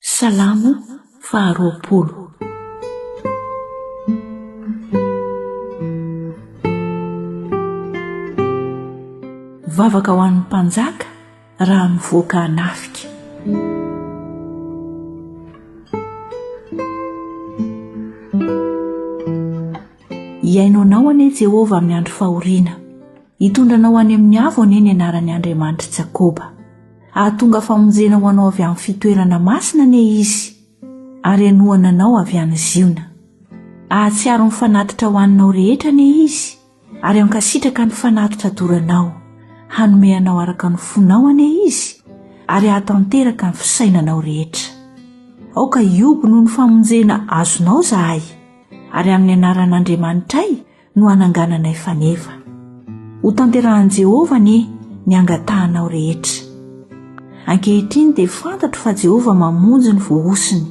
Salamo faharoapolo. Vavaka ho an'ny mpanjaka raha mivoaka anafika. Hiaino anao anie Jehovah amin'ny andro fahoriana. Hitondra anao any amin'ny avo anie ny anaran'ny Andriamanitr'i Jakoba. Hahatonga famonjena ho anao avy amin'ny fitoerana masina anie Izy, ary hanohana anao avy any Ziona. Hahatsiaro ny fanatitra hohaninao rehetra anie Izy, ary hankasitraka ny fanatitra doranao. Hanome anao araka ny fonao anie Izy, ary hahatanteraka ny fisainanao rehetra. Aoka hihoby noho ny famonjena azonao izahay, ary amin'ny anaran'Andriamanitray no hanangananay faneva. Hotanterahin'i Jehovah anie ny angatahanao rehetra. Ankehitriny dia fantatro fa Jehovah mamonjy ny voahosony.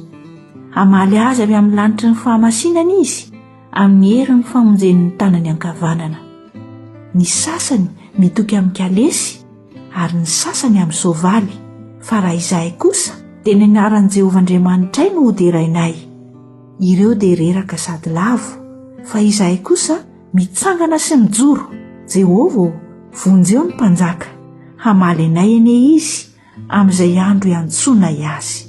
Hamaly azy avy amin'ny lanitry ny fahamasinany izy, amin'ny herin'ny famonjen'ny tanany ankavanana. Ny sasany mitoky amin'ny kalesy, ary ny sasany amin'ny soavaly, fa raha izahay kosa, dia ny anaran'i Jehovah Andriamanitray no hoderainay. Ireo dia reraka sady lavo, fa izahay kosa mitsangana sy mijoro. Jehovah ô, vonjeo ny mpanjaka, hamaly anay anie izy amin'izay andro iantsoanay azy.